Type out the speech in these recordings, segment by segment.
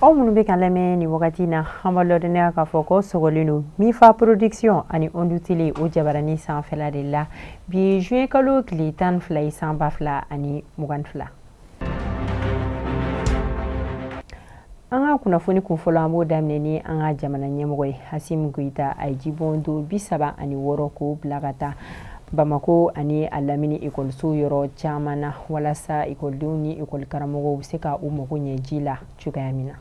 aw minnu bɛ k'an lamɛn nin wagati na an b'aw ladɔnniya k'a fɔ ko sɔgɔlen don mifa production ani ondu tele o jabarani sanfɛla de la bi juin kalo tile tan ni fila ye san ba fila ani mugan ni fila an ka kunnafoni kunfɔlɔ an b'o daminɛ ni an ka jamana ɲɛmɔgɔ ye asimi goyita a ye jibondon bi saba ani wɔɔrɔ k'o bila ka taa bamako ani a lamini ekɔliso yɔrɔ caman na walasa ekɔlidenw ni ekɔlikaramɔgɔw bɛ se ka u mago ɲɛ ji la cogoya min na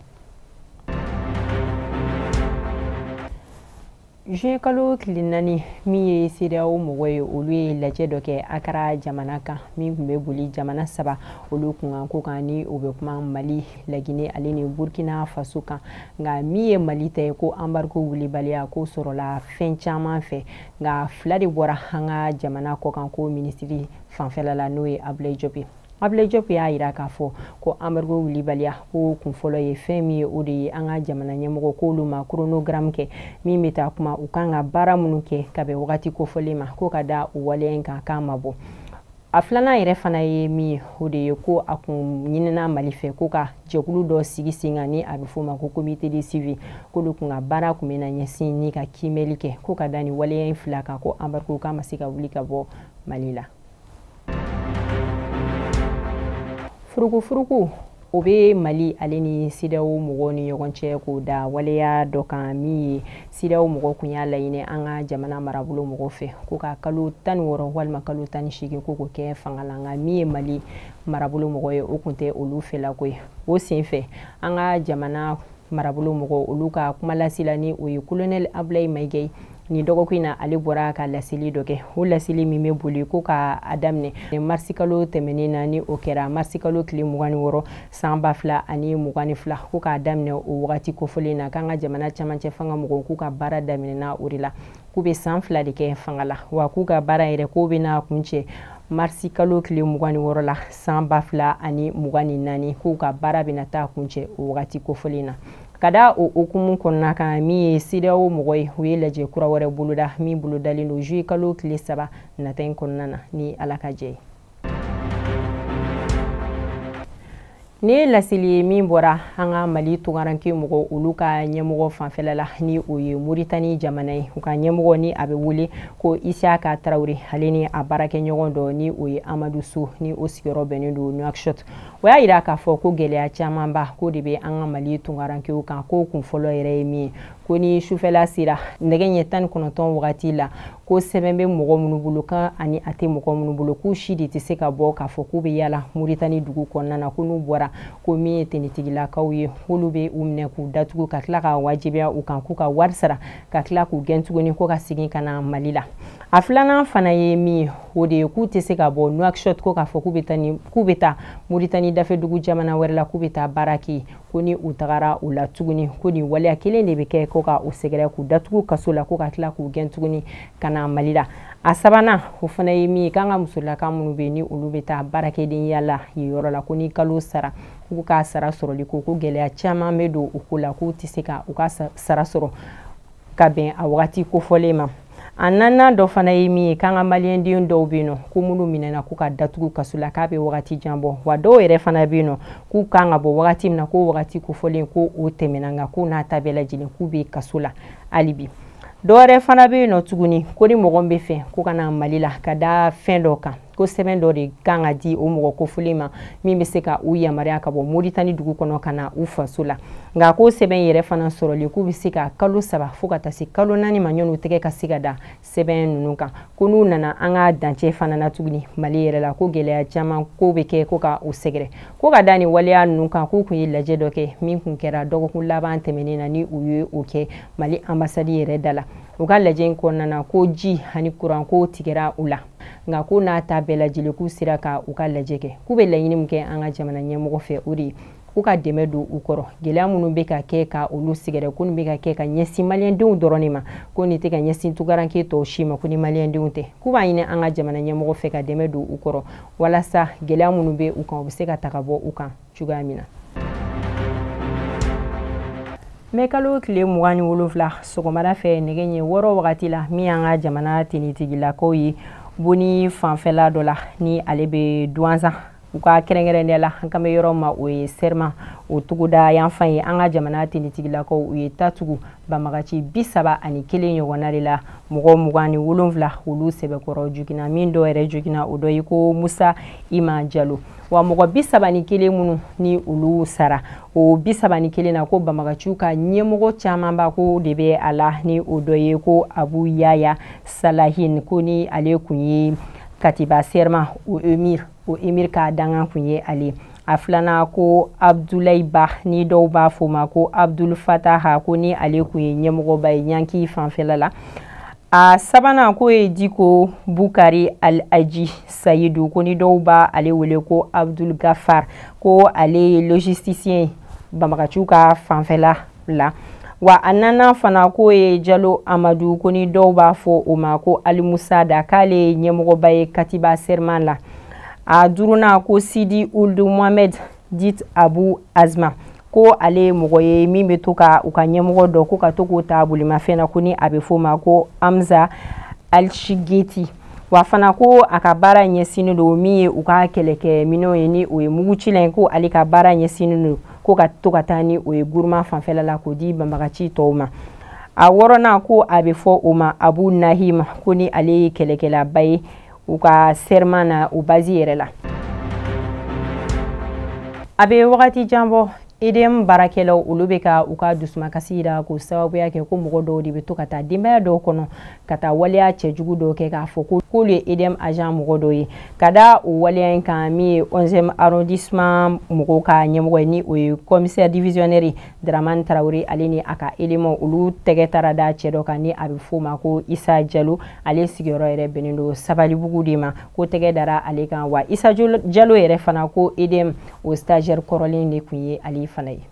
juin kalo tile naani min ye sedeyawo mɔgɔ ye olu ye lajɛ dɔ kɛ akara jamana kan min tun bɛ boli jamana saba olu kunkanko kan ni o bɛ kuma mali lagine ale ni burkina faso kan nka min ye mali ta ye ko embargo wulibaliya k'o sɔrɔla fɛn caman fɛ nka fila de bɔra an ka jamana kɔkanko minisiri fanfɛla la n'o ye abulayi jɔpu Abulaye Diop y'a jira k'a fɔ ko embargo wulibaliya ko kun fɔlɔ ye fɛn min ye o de ye an ka jamana ɲɛmɔgɔ k'olu ma chronogramme kɛ min bɛ taa kuma u kan ka baara minnu kɛ ka bɛn wagati kofɔlen ma ko ka da o waleya in kan k'a ma bɔ a filanan yɛrɛ fana ye min ye o de ye ko a kun ɲinina mali fɛ ko ka jɛkulu dɔ sigi sen kan ni a bɛ f'o ma ko comité de suivi k'olu kun ka baara kun bɛna ɲɛsin ni ka kiimɛli kɛ ko ka da nin waleya in fila kan ko embargo k'a ma se ka wuli ka bɔ mali la furukufuruku o bɛ mali ale ni sedeyawo mɔgɔw ni ɲɔgɔn cɛ k'o da waleya dɔ kan min ye sedeyawo mɔgɔ kun y'a laɲini an ka jamana marabolo mɔgɔ fɛ ko ka kalo tan ni wɔɔrɔ walima kalo tan ni seegin ko k'o kɛ fanga la nka min ye mali marabolo mɔgɔ ye o kun tɛ olu fɛlako ye o senfɛ an ka jamana marabolo mɔgɔ olu ka kumalasela ni o ye kolonɛli abulayi mayiga ye nin dɔgɔkun in na ale bɔra ka laseli dɔ kɛ o laseli min bɛ boli ko ka a daminɛ marisikalo tɛmɛnen na ni o kɛra marisikalo tile mugan ni wɔɔrɔ san ba fila ani mugan ni fila ko k'a daminɛ o wagati kofɔlen na k'an ka jamana camancɛ fanga mɔgɔw k'u ka baara daminɛna o de la k'u bɛ san fila de kɛ fanga la wa k'u ka baara yɛrɛ k'o bɛna kuncɛ marisikalo tile mugan ni wɔɔrɔ la san ba fila ani mugan ni naani k'u ka baara bɛna taa kuncɛ o wagati kofɔlen na ka da o hukumu kɔnɔna kan min ye sedeyawo mɔgɔ ye u ye lajɛ kura wɛrɛ boloda min bolodalen don juillet kalo tile saba nata in kɔnɔna na ni ala ka jɛn ye Nin ye laseli ye min bɔra an ka mali tunkaranke mɔgɔ olu ka ɲɛmɔgɔ fanfɛla la ni o ye moritani jamana ye u ka ɲɛmɔgɔ ni a bɛ wele ko isiyaka tarawele ale ni a baarakɛɲɔgɔn dɔ ni o ye amadu so ni o sigiyɔrɔ bɛnnen don nuakshot o y'a yira k'a fɔ ko gɛlɛya camanba ko de bɛ an ka mali tunkarankew kan ko kun fɔlɔ yɛrɛ ye min ye ko ni sufɛla sera nɛgɛ ɲɛ tan ni kɔnɔntɔn wagati la ko sɛbɛn bɛ mɔgɔ minnu bolo kan ani a tɛ mɔgɔ minnu bolo k'u si de tɛ se ka bɔ k'a fɔ k'u bɛ yala muritani dugu kɔnɔna na ko n'u bɔra ko min ye tenitigilakaw ye k'olu bɛ u minɛ k'u datugu ka tila ka wajibiya u kan k'u ka wari sara ka tila k'u gɛn tuguni ko ka segin ka na mali la a filanan fana ye min ye o de ye k'u tɛ se ka bɔ nuakshot ko k'a fɔ k'u bɛ taa ni k'u bɛ taa moritani dafɛdugu jamana wɛrɛ la k'u bɛ taa baara kɛ ko ni u tagara u la tuguni ko nin waleya kelen de bɛ kɛ ko ka u sɛgɛrɛ k'u datugu kaso la ko ka tila k'u gɛn tuguni ka na mali la a sabanan o fana ye min ye k'an ka musolaka minnu bɛ yen ni olu bɛ taa baarakɛdenya la yen yɔrɔ la ko ni kalo sara k'u ka sara sɔrɔli ko ko gɛlɛya caman bɛ don u ko la k'u tɛ se ka u ka sara sɔrɔ ka bɛn a wagati kofɔlen ma a naaninan dɔ fana ye min ye k'an ka maliyɛnden dɔw bɛ yen nɔ ko minnu minɛna k'u ka datugu kaso la k'a bɛ wagati jan bɔ wa dɔw yɛrɛ fana bɛ yen nɔ k'u kan ka bɔ wagati min na k'o wagati kofɔlen ko o tɛmɛna nka k'o n'a ta bɛɛ lajɛlen k'u bɛ kaso la hali bi dɔwɛrɛ fana bɛ yen nɔ tuguni ko ni mɔgɔ bɛ fɛ ko ka na mali la ka da fɛn dɔ kan ko sɛbɛn dɔ de kan ka di o mɔgɔ kofɔlen ma min bɛ se ka u yamaruya ka bɔ moritani dugu kɔnɔ ka na u faso la nka ko sɛbɛn yɛrɛ fana sɔrɔli k'o bɛ se ka kalo saba fo ka taa se kalo naani ma yanni tɛgɛ ka se ka da sɛbɛn ninnu kan ko n'u nana an ka dancɛ fana na tuguni mali yɛrɛ la ko gɛlɛya caman ko bɛ kɛ ko ka u sɛgɛrɛ ko ka da nin waleya ninnu kan k'u kun ye lajɛ dɔ kɛ min kun kɛra dɔgɔkun laban tɛmɛnen na ni u ye o kɛ mali anbasadi yɛrɛ da la u ka lajɛ in kɔnɔna na ko ji ani kuran ko tigɛra u la nka k'o n'a ta bɛɛ lajɛlen k'u sera ka u ka lajɛ kɛ k'u bɛ laɲini min kɛ an ka jamana ɲɛmɔgɔ fɛ o de ye k'u ka dɛmɛ don u kɔrɔ gɛlɛya minnu bɛ ka kɛ ka olu sɛgɛrɛ ko nin bɛ ka kɛ ka ɲɛsin maliyɛndenw dɔrɔn de ma ko nin tɛ ka ɲɛsin tunkaranke tɔw si ma ko ni maliyɛndenw tɛ k'u b'a ɲini an ka jamana ɲɛmɔgɔ fɛ ka dɛmɛ don u kɔrɔ walasa gɛlɛya minnu bɛ u kan u bɛ se ka ta ka bɔ u kan cogoya min na mɛkalo tile mugan ni wolonfila sɔgɔmada fɛ nɛgɛ ɲɛ wɔɔrɔ wagati la min y'an ka jamana tenitigilakaw ye boni fanfɛla dɔ la ni ale bɛ duwanzan u ka kɛrɛnkɛrɛnnenya la an kan bɛ yɔrɔ ma o ye sɛrima o togoda yanfan ye an ka jamana tenitigilakaw u ye ta tugu banbagaci bi saba ani kelen ɲɔgɔnna de la mɔgɔ mugan ni wolonfila olu sɛbɛkɔrɔ jogina min dɔ yɛrɛ jogina o dɔ ye ko musa ima jalo wa mɔgɔ bi saba ni kelen minnu ni olu sara o bi saba ni kelen na ko banbagaciw ka ɲɛmɔgɔ camanba ko de bɛ a la ni o dɔ ye ko abu yaya salahin ko ni ale kun ye katiba serma o emir o emir ka dankan kun ye ale a filanan ko abdulayi ba ni dɔw b'a fɔ ma ko abdul fataha ko ni ale kun ye ɲɛmɔgɔba ye ɲanki fanfɛla la a sabanan k'o ye diko bukari al aji sayidu ko ni dɔw bɛ ale wele ko abdul gafar ko ale ye logisticien banbagaciw ka fanfɛla la wa a naaninan fana k'o ye jalo amadu ko ni dɔw b'a fɔ o ma ko almusada k'ale ye ɲɛmɔgɔba ye katiba serman la a duurunan ko sidi uldu mohamɛd dit abu azma ko ale ye mɔgɔ ye min bɛ to ka u ka ɲɛmɔgɔ dɔ ko ka to k'o ta bolimafɛn na ko ni a bɛ f'o ma ko amza alshigeti wa fana ko a ka baara ɲɛsinnen don min ye u ka kɛlɛkɛ minɛnw ye ni o ye mugucilan ye ko ale ka baara ɲɛsinnen don ko ka to ka taa ni o ye guruma fanfɛla la k'o di banbagaci tɔw ma a wɔɔrɔnan ko a bɛ fɔ o ma abu nahim ko ni ale ye kɛlɛkɛlaba ye u ka serman na o bazi yɛrɛ la a bɛ wagati jan bɔ edm baarakɛlaw olu bɛ ka u ka dusumakasi yira k'o sababuya kɛ ko mɔgɔ dɔw de bɛ to ka taa denbaya dɔw kɔnɔ ka taa waleya cɛjugu dɔw kɛ k'a fɔ ko k'olu ye edm agent mɔgɔ dɔw ye ka da o waleya in kan min ye 11e arrondissement mɔgɔw ka ɲɛmɔgɔ ye ni o ye commissaire divisionnaire Dramane Traoré ale ni a ka éléments olu tɛgɛ taara da cɛ dɔ kan ni a bɛ f'o ma ko Issa Diallo ale sigiyɔrɔ yɛrɛ bɛnnen don Sabalibugu de ma ko tɛgɛ dara ale kan wa Issa Diallo yɛrɛ fana ko EDM o stagiaire kɔrɔlen de kun ye ale fana ye.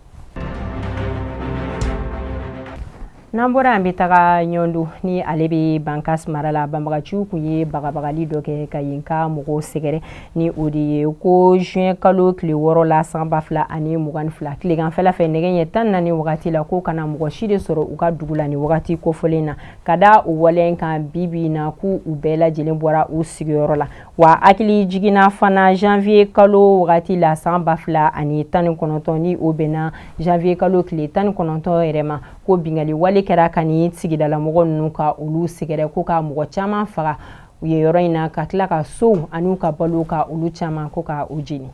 n'an bɔra an bɛ taga ɲɔndu ni ale bɛ bankas mara la banbagaciw kun ye bagabagali dɔ kɛ ka yen ka mɔgɔw sɛgɛrɛ ni o de ye ko juin kalo tile wɔɔrɔ la san ba fila ani mugan ni fila tileganfɛla fɛ nɛgɛ ɲɛ tan naani wagati la ko kana mɔgɔ si de sɔrɔ u ka dugu la ni wagati kofɔlen na ka da o waleya kan bi bi in na ko u bɛɛ lajɛlen bɔra u sigiyɔrɔ la wa hakilijigin na fana janvier kalo wagati la san ba fila ani tan ni kɔnɔntɔn ni o bɛnna janvier kalo tile tan ni kɔnɔntɔn yɛrɛ ma ko bingali wale kɛra ka ni sigidalamɔgɔ ninnu ka olu sɛgɛrɛ ko ka mɔgɔ caman faga yen yɔrɔ in na ka tila ka sow an'u ka balo ka olu caman ko ka u jeni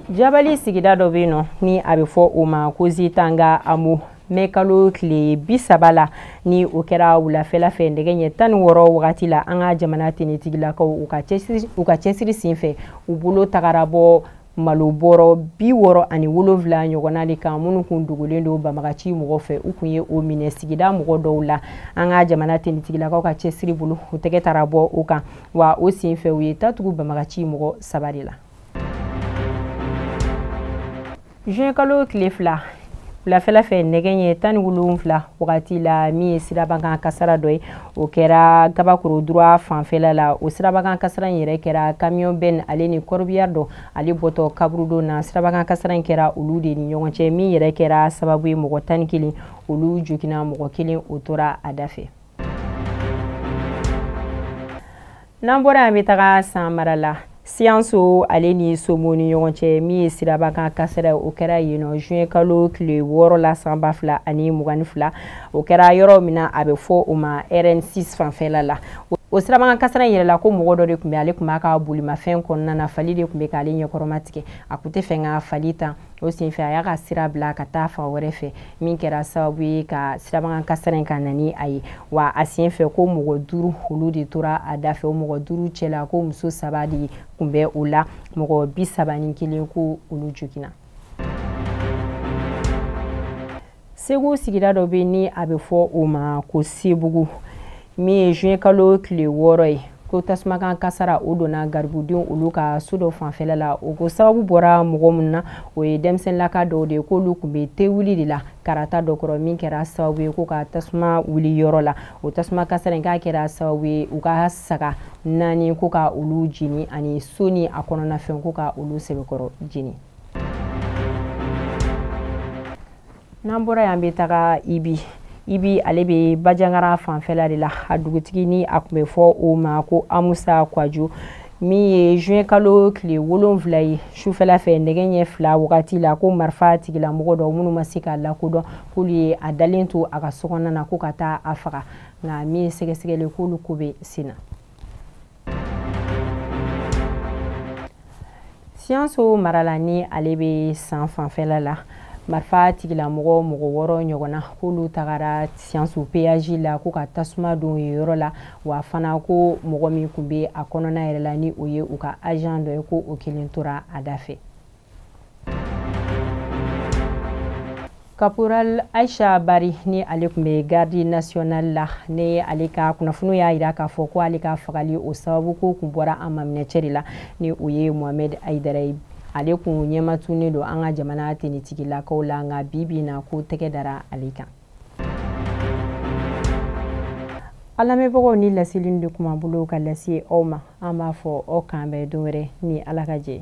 jabali sigida dɔ bɛ yen nɔ ni a bɛ fɔ o ma ko zitanga amu mɛ kalo tile bi saba la ni o kɛra wulafɛla fɛ nɛgɛ ɲɛ tan ni wɔɔrɔ wagati la an ka jamana tenitigilakaw u ka cɛsiri sen fɛ u bolo tagara bɔ malo bɔrɔ bi wɔɔrɔ ani wolonwula ɲɔgɔnna de kan minnu kun dogolen don banbagaci mɔgɔ fɛ u kun ye o minɛ sigida mɔgɔ dɔw la an ka jamana tenitigilakaw ka cɛsiri bolo u tɛgɛ taara bɔ o kan wa o sen fɛ u ye ta tugu banbagaci mɔgɔ saba de la juin kalo tile fila wulafɛla fɛ nɛgɛ ɲɛ tan ni wolonfila wagati la min ye sirabakan kasara dɔ ye o kɛra gabakoro droit fanfɛla la o sirabakan kasara in yɛrɛ kɛra kamiyɔn bɛn ale ni corbillard dɔ ale bɔtɔ kaburudo na sirabakan kasara in kɛra olu de ni ɲɔgɔn cɛ min yɛrɛ kɛra sababu ye mɔgɔ tan ni kelen olu jogina mɔgɔ kelen o tora a da fɛ n'an bɔra an bɛ taga san mara la siyanso ale ni somo ni ɲɔgɔn cɛ min ye sirabakan kasara o kɛra yen nɔ juin kalo tile wɔɔrɔ la san ba fila ani mugan ni fila o kɛra yɔrɔ min na a bɛ fɔ o ma rn6 fanfɛla la o sirabakan kasara in yɛrɛ la ko mɔgɔ dɔ de kun bɛ ale kun b'a ka bolimafɛn kɔnɔna na fali de kun bɛ k'ale ɲɛkɔrɔma tigɛ a kun tɛ fɛ ka fali tan o senfɛ a y'a ka sira bila ka taa fan wɛrɛ fɛ min kɛra sababu ye ka sirabakan kasara in ka na ni a ye wa a senfɛ ko mɔgɔ duuru olu de tora a da fɛ o mɔgɔ duuru cɛla ko muso saba de kun bɛ o la mɔgɔ bi saba ni kelen ko olu joginna segu sigida dɔ bɛ ni a bɛ fɔ o ma ko sebugu min ye juin kalo tile wɔɔrɔ ye ko tasumakan kasara o donna garibudenw olu ka so dɔ fanfɛla la o ko sababu bɔra mɔgɔ min na o ye denmisɛnninlaka dɔw de k'olu kun bɛ te wuli de la karata dɔ kɔrɔ min kɛra sababu ye ko ka tasuma wuli yɔrɔ la o tasuma kasara in k'a kɛra sababu ye u ka saga naani ko ka olu jeni ani so ni a kɔnɔnafɛn ko ka olu sɛbɛkɔrɔ jeni n'an bɔra yan bɛ taga ibi ibi ale bɛ bajangara fanfɛla de la a dugutigi ni a kun bɛ fɔ o ma ko amusa kwajo min ye juin kalo tile wolonfila ye sufɛla fɛ nɛgɛ ɲɛ fila wagati la ko marifa tigilamɔgɔ dɔ minnu ma se k'a lakodɔn k'olu ye a dalen to a ka sokɔnɔna na ko ka taa a faga nka min ye sɛgɛsɛgɛli k'olu ko bɛ sen na siyanso mara la ni ale bɛ san fanfɛla la marifa tigilamɔgɔ mɔgɔ wɔɔrɔ ɲɔgɔnna k'olu tagara siyanso péage la ko ka tasuma don yen yɔrɔ la wa fana ko mɔgɔ min kun bɛ a kɔnɔna yɛrɛ la ni o ye u ka agent dɔ ye ko o kelen tora a da fɛ caporal aisha bari ni ale kun bɛ garde nationale la ni ale ka kunnafoniw y'a jira k'a fɔ ko ale ka fagali o sababu ko kun bɔra a maminɛcɛ de la ni o ye mohamed aidara ye ale kun ɲɛmatunnen don an ka jamana tenitigilakaw la nka bi bi na ko tɛgɛ dara ale kan an lamɛnbagaw nin laseli de kun b'an bolo ka lase aw ma an b'a fɔ aw k'an bɛn don wɛrɛ ni ala ka jɛ